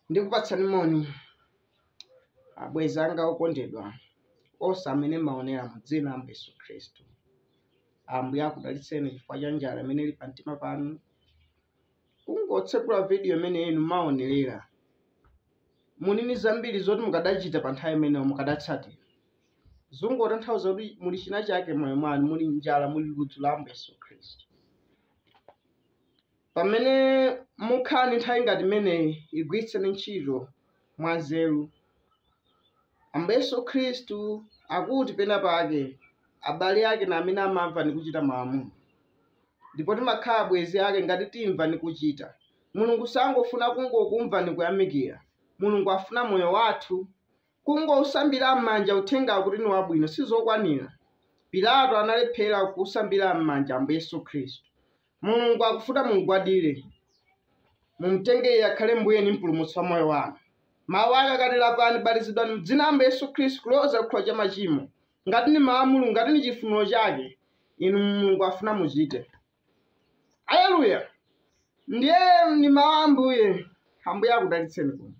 ndikupatsani moni abwenzi anga okondedwa onse amene mumaonera mu dzina la ambuye yesu khristu ambuye akudalitseni chifukwa cha njala imene ili pamtima panu kungotsekula vidiyo imeneyi nkumaonerera muli ndi zambiri zoti mukadachita pa nthawi imeneyo mukadatsatira zungotanthauza kuti muli china chake m'moyo mwanu muli njala muli ludzu la ambuye yesu khristu pamene mukhala ndi nthawi ngati imeneyi igwiritseni ntchito mwanzeru Ambuye Yesu Khristu akuti penapake abale ake na amene amamva ni kucita malamulo. Ndipo timakhala abwenzi ake ngati timva ni kucita. Mulungu sangofuna kungokumva ni kuyamikila. Mulungu afuna moyo wathu. Kungousambila m'manja uthengawo kuti ni wabwino sizokwanila. Pilato analephela kusambila m'manja Ambuye Yesu Khristu. Mulungu akufuna mumgwadire, mumtenge Iye akhale Mbuye ndi Mpulumutsi wa moyo wanu. Mawu ake akati, Lapani, batizidwani m'dzina la Ambuye Yesu Khristu kuloza ku chikhululukiro cha machimo, ngati ndi mawu a Mulungu, ngati ndi chifuniro chake, inu Mulungu afuna muchite. Aleluya! Ndiye ndi mawu a Ambuye. Ambuye akudalitseni kuno.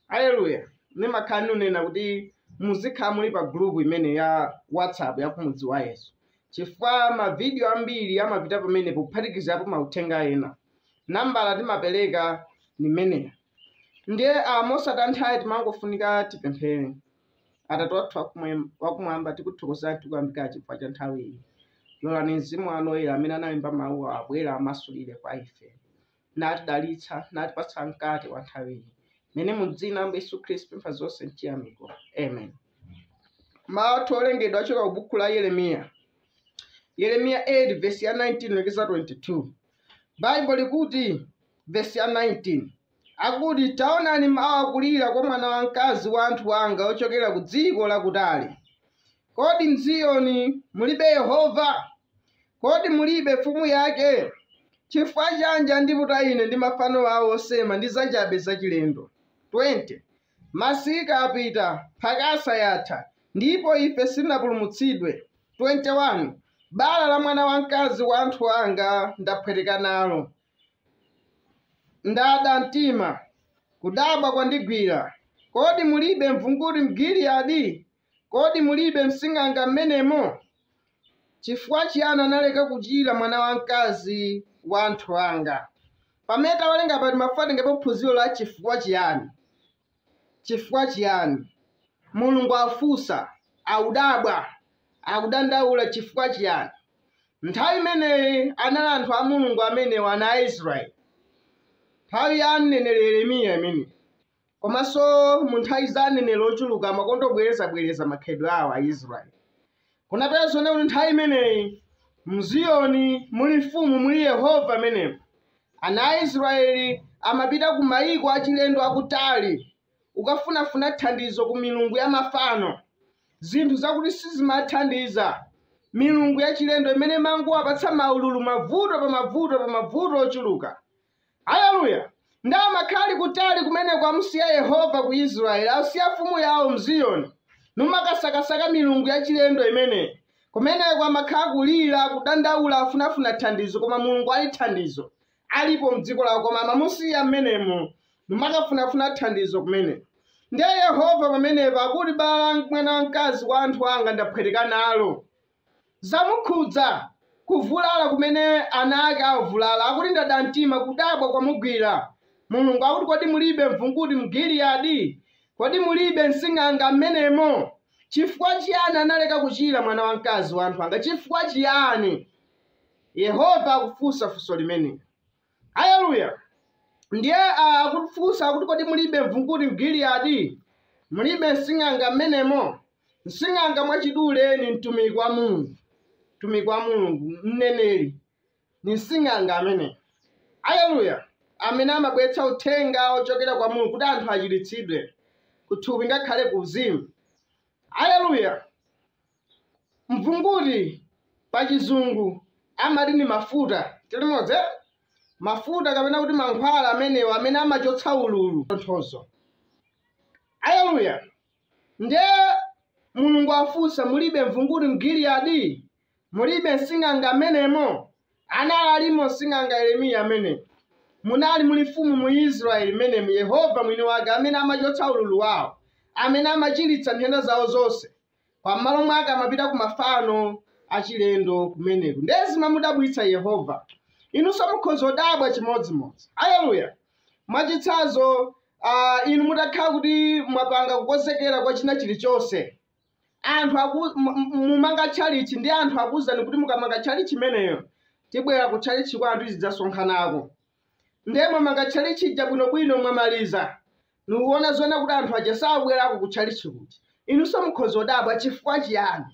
Aleluya. Nimakhala nikunena kuti muzikhala muli pa group imene ya WhatsApp ya kumudzi wa Yesu. Chifukwa mavidiyo ambiri amapita pamenepo kuphatikizapo mauthenga ena. Nambala timapereka nimeneyo. Ndiye ah, mosataya nthawi timangofunika tipemphere. Atate wathu wakumwe- wakumwamba tikuthokozani tikuyamikani chifukwa cha nthawi iyi. Lolani mzimu wanu oyera amene analemba mawuwa abwere amasulire kwa ife. natidalitsa natipatsa mkate wa nthawi ino mene mu dzina la ambuye yesu khristu pempha zonse mchiyamiko amen mawu athu owerengedwa achoka ku buku la yeremiya yeremiya 8 vesi ya 19 kulekeza 22 baibulo likuti vesi ya 19 akuti taonani mawu akulira kwa mwana wamkazi wa anthu wanga ochokera ku dziko lakutali kodi mziyoni mulibe yehova Kodi mulibe mfumu yake? Chifukwa chanji andiputa ine ndi mafano awo osema ndi zachabe zachilendo? 20 Masika apita, mphakasa yatha, ndipo ife sitinapulumutsidwe, 21 bala la mwana wamkazi wa anthu anga ndaphweteka nalo, ndada mtima, kudabwa kwandigwira, Kodi mulibe mvunguti m'Giliyadi? Kodi mulibe msing'anga mmenemo? Chifukwa chiyani analeka kuchira mwana wamkazi wa anthu anga? Pamene tawerenga apa timafuna titengepo phunziro la chifukwa chiyani. Chifukwa chiyani? Mulungu akufunsa, akudabwa, akudandaula chifukwa chiyani. Nthawi imeneyi anali anthu a Mulungu amenewo, ana a Israeli, nthawi ya mneneri Yeremiya imeneyi. Komanso mu nthawi za aneneri ochuluka amakonda kubwerezabwereza makhalidwe awo a Israeli. Unapeza zonena kuti nthawi imeneyi mziyoni muli mfumu muli Yehova m'menemo. Ana a Israeli amapita ku mayiko achilendo akutali kukafunafuna thandizo ku milungu ya mafano, zinthu zakuti sizimathandiza, milungu yachilendo imene imangowapatsa maululu mavuto pa mavuto pa mavuto ochuluka. Aleluya! Ndiye amakhala ali kutali kumeneko amusiya Yehova ku Israeli, asiya mfumu yawo m'Ziyoni, numakasakasaka milungu yachilendo imeneyi. Kumeneko amakhala akulira, kudandaula, afunafuna thandizo, koma Mulungu ali thandizo. Alipo m'dziko lawo, koma amamusiya m'menemo, numakafunafuna thandizo kumeneko. Ndiye Yehova pamenepo akuti, Bala la mwana wamkazi wa anthu anga ndaphweteka nalo. zamukhudza, kuvulala kumene ana ake avulala, akuti ndada mtima, kudabwa kwamugwira, Mulungu akuti kodi mulibe mvunguti mu Giliyadi? Kodi mulibe msing'anga m'menemo? Chifukwa chiyani analeka kuchira mwana wamkazi wa anthu anga? Chifukwa chiyani? Yehova akufunsa funso limenelo. Aleluya! Ndiye a- akufunsa akuti kodi mulibe mvunguti m'Giliyadi? Mulibe msing'anga m'menemo? Msing'anga mwachidule ni mtumiki wa Mulungu, mtumiki wa Mulungu, mneneri ni msing'anga amene. Aleluya! Amene amabweretsa uthenga ochokera kwa Mulungu kuti anthu achiritsidwe kuthupi ngakhale ku uzimu. Aleluya! Mvunguti pa chizungu amati ndi mafuta, tilimodzi eti? Mafuta kapena kuti mankhwala amenewa amene amachotsa ululu, tonthozo. Aleluya! Ndiye Mulungu afunsa, mulibe mvunguti m'Giliyadi? Mulibe msing'anga m'menemo? Anali alimo msing'anga Yeremiya ameneyo. Munali muli mfumu mu Israeli m'menemo, Yehova mwini wake amene amachotsa ululu wao, amene amachiritsa nthenda zao zonse. koma m'malo mwake amapita ku mafano achilendo kumeneko ndiye zimamudabwitsa yehova inunso mukhoza kudabwa chimodzimodzi aleluya mwachitsanzo ah, inu mutakhala kuti mwapanga kukonzekera kwa china chilichonse anthu aku- mu- mu- mumanga tchalichi ndi anthu akuwuzani kuti mukamanga tchalichi imeneyo tibwera ku tchalichi kwanu tidzasonkhanako ndiye mwamanga tchalichi ija bwinobwino mwamaliza Mukuona zoona kuti anthu aja sakubwerako ku tchalitchi kuja, inunso mukhoza kudabwa chifukwa chiyani.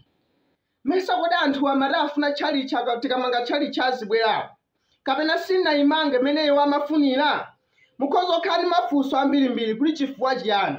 Mesa kodi anthuwa amati afuna tchalitchi apa, tikamanga tchalitchi azibwerako? Kapena sitinaimange mmene iwo amafunira? Mukhoza kukhala ndi mafunso ambirimbiri kuti chifukwa chiyani.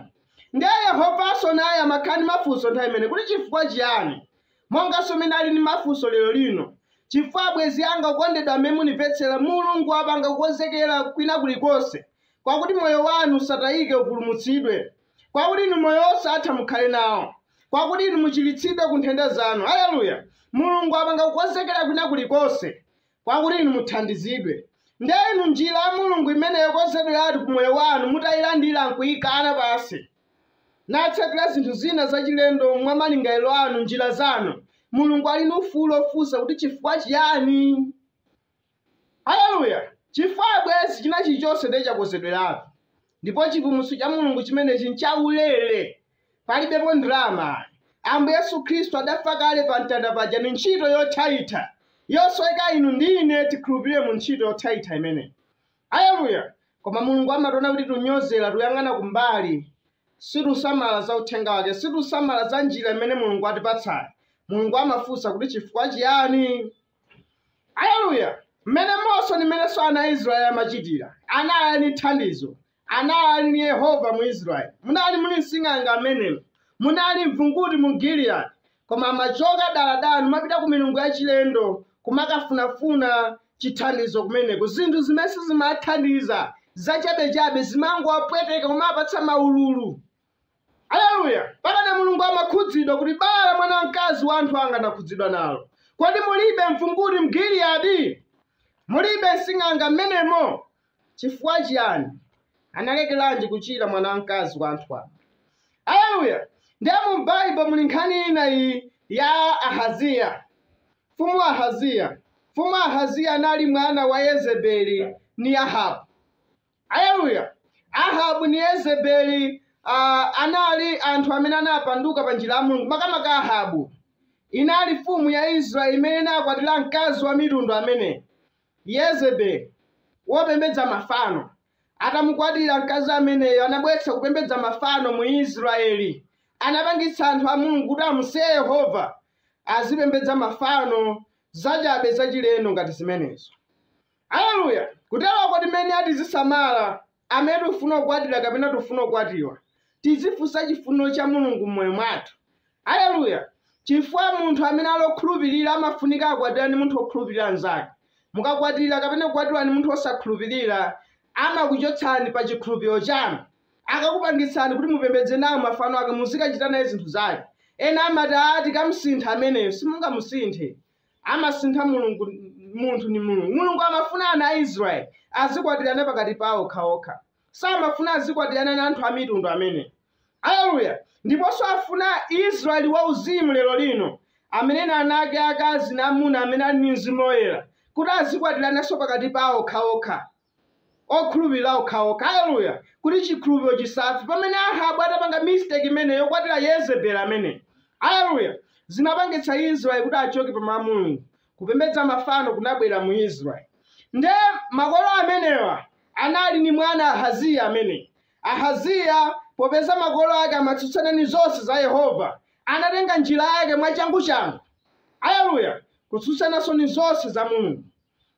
Ndiye Yehovanso naye amakhala ndi mafunso nthawi imeneyi kuti chifukwa chiyani? Monganso mmene ali ndi mafunso lero lino. Chifukwa abwenzi anga okondedwa amene mukunimvetsera, Mulungu wapanga kukonzekera kwina kulikonse kwakuti moyo wanu usatayike upulumutsidwe, kwakuti inu moyo wosatha mukhale nawo, kwakuti inu muchiritsidwe ku nthenda zanu. Aleluya! Mulungu wapanga kukonzekera kwina kulikonse kwakuti inu muthandizidwe. Ndiye inu njira ya Mulungu imene yokonzedweratu pa moyo wanu mutayilandira nkuyikankha pansi natsatira zinthu zina zachilendo mwa malingaliro anu, njira zanu. Mulungu ali ndi ufulu wofunsa kuti chifukwa chiyani? Aleluya! Chifukwa, abwenzi, china chilichonse ndiye chakonzedweratu. Ndipo chipulumutso cha Mulungu chimenechi nchaulere. Palibepo ndalama ayi. Ambuye Yesu Khristu adafa kale pa mtanda paja ndi ntchito yothaitha, yosoweka inu ndi ine tikhulupirire mu ntchito yothaitha imeneyi. Aleluya! Koma Mulungu amationa kuti tikunyozera, tikuyang'ana kumbali. Sitikusamala za uthenga wake. Sitikusamala za njira imene Mulungu watipatsayi. Mulungu amafunsa kuti chifukwa chiyani? Aleluya! Mmenemonso ndi mmenenso ana a Israeli amachitira, anali ali ndi thandizo, anali ali ndi Yehova mu Israeli. Munali muli msing'anga mmenemo, munali mvunguti mu Giliyadi, koma amachoka daladala n'kumapita ku milungu yachilendo kumakafunafuna chithandizo kumeneko. Zinthu zimene sizimathandiza, zachabechabe, zimangowapweteka, kumawapatsa maululu. Aleluya! Pamene Mulungu amakhudzidwa kuti bala la mwana wamkazi wa anthu anga anakhudzidwa nalo. Kodi mulibe mvunguti m'Giliyadi? Mulibe msing'anga m'menemo? Chifukwa chiyani? Analekeranji kuchira mwana wamkazi wa anthu anga? Aleluya! Ndiye mu m'Baibulo muli nkhani ina iyi ya Ahaziya, Mfumu Ahaziya. Mfumu Ahaziya anali mwana wa Yezebeli ni Ahabu. Aleluya! Ahabu ndi Yezebeli uh, anali anthu amene anapanduka pa njira ya Mulungu. Makamaka Ahabu inali mfumu ya Israeli imene inakwatira mkazi wa mitundu ameneyi Yezebeli wopembedza mafano atamukwatira mkazi ameneyo anabweretsa kupembedza mafano mu Israeli, anapangitsa anthu a Mulungu kuti amusiye Yehova azipembedza mafano zachabe zachilendo ngati zimenezo. Aleluya! Kuteroko tinene tizisamala amene tikufuna kukwatira kapena tikufuna kukwatiwa. Tizifunsa chifuniro cha Mulungu m'moyo mwathu. Aleluya! Chifukwa munthu amene ali okhulupirira amafunika akwatirane ndi munthu okhulupirira mnzake. Mukakwatira kapena kukwatiwa ndi munthu osakhulupirira, amakuchotsani pa chikhulupiriro chanu. Akakupangitsani kuti mupembedze nawo mafano ake muzikachita naye zinthu zake. Ena amati, ah, tikamsintha ameneyo. Simungamusinthe. amasintha mulungu munthu ndi mulungu mulungu amafuna ana a israeli azikwatirana pakati pawo okhaokha samafuna azikwatirana na anthu amitundu amenewa aleluya ndiponso afuna israeli wauzimu lero lino ameneyu ana ake akazi na amuna amene ali ndi mzimu woyera kuti azikwatirananso pakati pawo okhaokha okhulupirira okhaokha. Aleluya! Kuti chikhulupiro chisafe. Pamene Ahabu atapanga mistake imeneyo yokwatira Yezebeli ameneyi, aleluya, zinapangitsa Israeli kuti achoke pa Mawu a Mulungu. Kupembedza mafano kunabwera mu Israeli. Nde makolo amenewa anali ni mwana Ahaziya ameneyi. Ahaziya, popeza makolo ake amatsutsana ni zonse za Yehova, anatenga njira yake mwachanguchangu, aleluya, kutsutsananso ni zonse za Mulungu.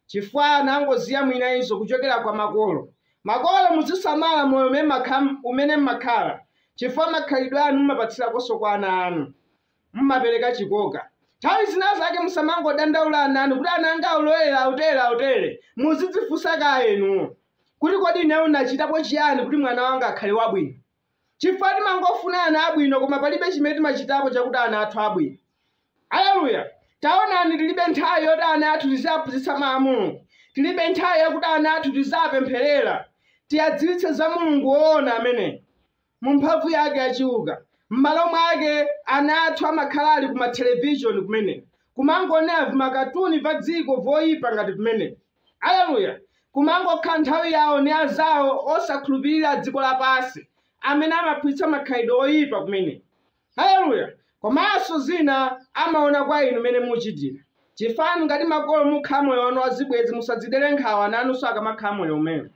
chifukwa anangoziyamwira izo kuchokera kwa makolo. Makolo, muzisamala moyo umene mma- umene mmakhala, chifukwa makhalidwe anu mumapatsirakonso kwa ana anu. Mumapereka chikoka. Nthawi zina zake musamangodandaula ana anu kuti ana anga aulowerera autere autere. Muzidzifunsa kaye inuwo kuti kodi ineyo nachitapo chiyani kuti mwana wanga akhale wabwino. Chifukwa timangofuna ana abwino koma palibe chimene timachitapo chakuti ana athu abwino. Aleluya! Taonani, tilibe nthawi yoti ana athu tiziaphunzitsa Mau a Mulungu. Tilibe nthawi yakuti ana athu tiziapempherera, tiadziwitse za Mulungu woona ameneyu, mu mphamvu yake ya chiuka. M'malo mwake, ana athu amakhala ali ku ma television kumeneyi, kumangonera vimakatuni va dziko loipa ngati vimenevi. Aleluya! Kumangokhala nthawi yawo ndi anzawo osakhulupirira a dziko lapansi amene amawaphunzitsa makhalidwe oyipa kumeneyi. Aleluya! Komanso zina amaona kwa inu mmene muchitira. Chifukwa inu ngati makolo mukhala moyo wanu wa zibwenzi musadzidere nkhawa ana anunso akamakhala moyo umenewo.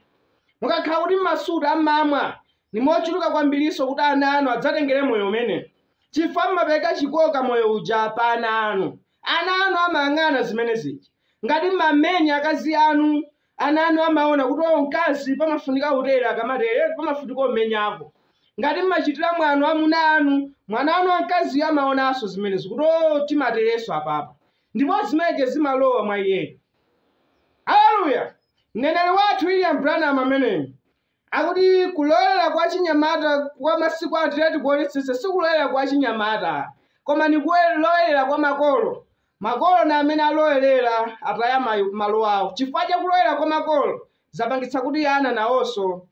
Mukakhala kuti mmasuta, mmamwa, ndi mochuluka kwambirinso kuti ana anu adzatengere moyo umenewo. Chifukwa mumapereka chikoka moyo uja pa ana anu. Ana anu amayang'ana zimene zija. ngati mmamenya akazi anu ana anu amaona kuti o mkazi pamafunika kutere akamatere pamafunika kumenyako ngati mmachitira mwano amuna anu mwana wanu wamkaziyo amaonanso zimenezi kuti o timaterenso apapa ndipo zimenezo zimalowa mwa iyeyi haleluya mneneri wathu william branham ameneyi Akuti kulowelela kwa achinyamata kwa masiku ano titati tikuonetsetsa sikulowelela kwa achinyamata koma ni kulowelela kwa makolo. Makolo ni amene alowelela ataya malo awo. Chifukwa cha kulowelela kwa makolo zapangitsa kuti ana nawonso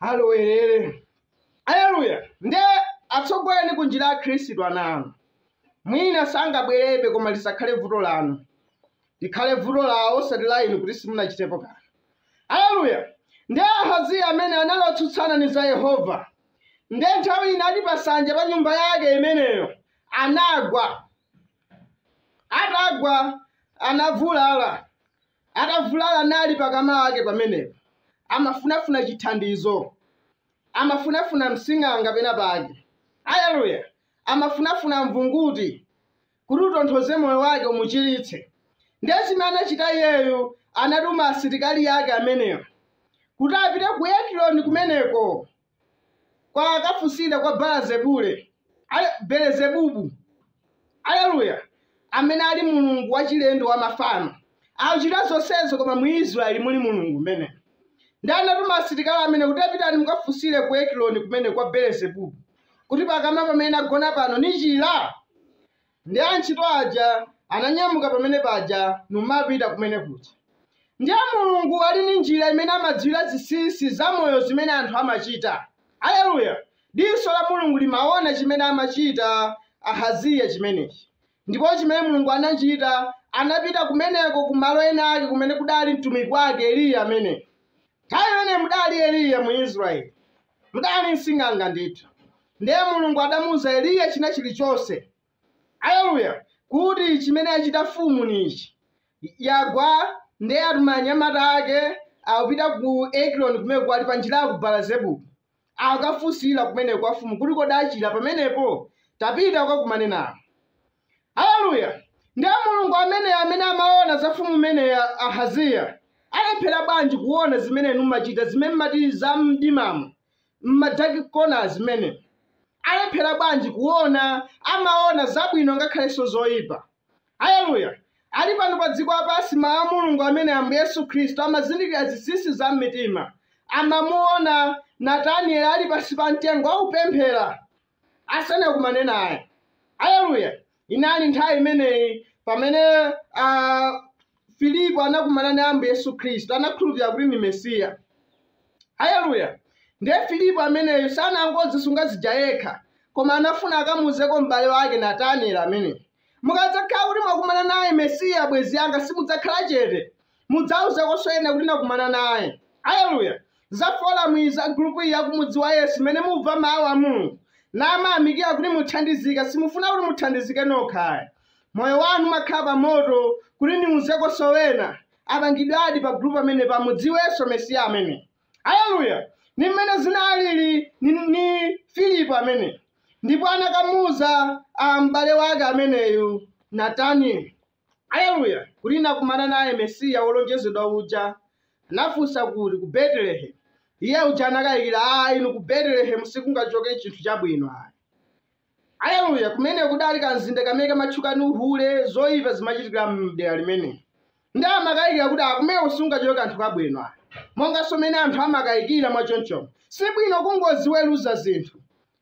alowelele. Aleluya! Nde atsogoleni ku njira ya Khristu ana anu. Mwina sangabwelelebe koma lisakhale vuto lanu. likhale vuto lawo osati la inu kuti simunachitepo kanthu aleluya ndiye ahaziya amene anali wotsutsana ndi za yehova nde nthawi ina ali pasanja pa nyumba yake imeneyo anagwa atagwa anavulala atavulala anali pakama wake pamenepo amafunafuna chithandizo amafunafuna msing'anga pena pake aleluya amafunafuna mvunguti kuti utonthoze moyo wake umuchiritse ndiye zimene anachita iyeyu anatuma asilikali ake amenewo kuti apite ku ekironi kumeneko kuti akafunsire kwa belezebule Ale- belezebubu aleluya amene ali mulungu wachilendo wa mafano akuchita zonsezo koma mu israeli muli mulungu mmene ndi anatuma asilikali amene kuti pitani mukafunsire ku ekironi kumene kwa belezebubu kuti pakama pamene nagona pano nichira? Ndiye antchito aja ananyamuka pamene paja numapita kumene kuja. Ndiye Mulungu ali ndi njira imene amadziwira zinsinsi za moyo zimene anthu amachita. Aleluya! Diso la Mulungu limaona chimene amachita Ahaziya chimenechi. Ndipo chimene Mulungu anachita, anapita kumeneko ku malo ena ake kumene kudali mtumiki wake Eliya amene. Nthawi imeneyi mudali Eliya mu Israeli, Mudali nsing'anga ndithu. Ndiye Mulungu adamuuza Eliya china chilichonse. Aleluya! Kuti chimene yachita mfumu ni ichi. Yagwa ndiye atuma anyamata ake akupita ku Ekironi kumeneku ali pa njira ya ku Baala-zebubu. Akafunsire kumeneko kwa mfumu kuti kodi achira pamenepo? Tapita ukakumane nawo. Aleluya! Ndi a Mulungu ameneyo amene amaona za mfumu imeneyo Ahaziya. Alephera bwanji kuona zimene inu mumachita, zimene mumati za mdimamu, m'madark corner zimenezi? Alephera bwanji kuona, amaona zabwino ngakhalenso zoyipa. Aleluya! Ali pano pa dziko lapansi, Mawu a Mulungu amene Ambuye Yesu Khristu amazindikira zinsinsi za m'mitima. Amamuona Natanieli ali pansi pa mtengo akupemphera. asanakumane naye aleluya inali nthawi imeneyi pamene ah, filipo anakumana ndi ambuye yesu khristu anakhulupirira kuti ndi mesiya aleluya ndiye filipo ameneyo sanangodzisunga zija yekha koma anafuna akamuuzeko m'bale wake natanieli ameneyi mukadzakhala kuti mwakumana naye mesiya bwenzi yanga simudzakhala chete mudzauzekonso ena kuti nakumana naye aleluya za forum iyi za gurupu iyi yakumudziwa yesu imene mumva mawu a mulungu nimayamikira kuti muthandizika simufuna kuti muthandizike nokha moyo wanu umakhala pa moto kuti niuzekonso ena apangidwe add pa gurupu amene pamudziwenso mesiya ameneyi aleluya ni mmene zinalili ni, ni filipo ameneyi ndipo anakamuuza a m'bale wake ameneyu natanieli Aleluya! Kuti nakumana naye Mesiya wolonjezedwa uja. Anafunsa kuti? Ku Betelehemu. Iye uja anakayikira, Ah, inu ku Betelehemu sikungachoke chinthu chabwino ayi. Aleluya! Kumene kuja kadali kamzinda kamene kamatchuka ndi uhule, zoyipa zimachitikira m'dera limenelo. Ndiye amakayikira kuti ah kumeneko sikungachoke kanthu kabwino ayi. Monganso mmene anthu amakayikira mwa chonchomo. Si bwino kungoziweruza zinthu.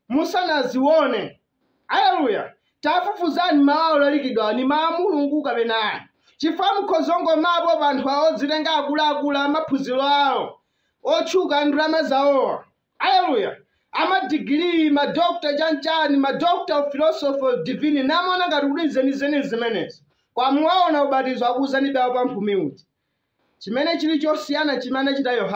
musanazione. Aleluya! Tafufuzani mawu olalikidwa ni mawu a Mulungu kapena ayi, chifukwa mukhoza kungomvapo pa anthu awo odzitenga akuluakulu a maphunziro awo otchuka ndalama zawowa. Aleluya! amadigiri ma doctor chanchani ma doctor of philosophy of divine nimaona ngati kuti nzenizeni zimenezi koma muwaona ubatizo akuuzani wa pamphumi uti chimene chili chosiyana chimene anachita yohana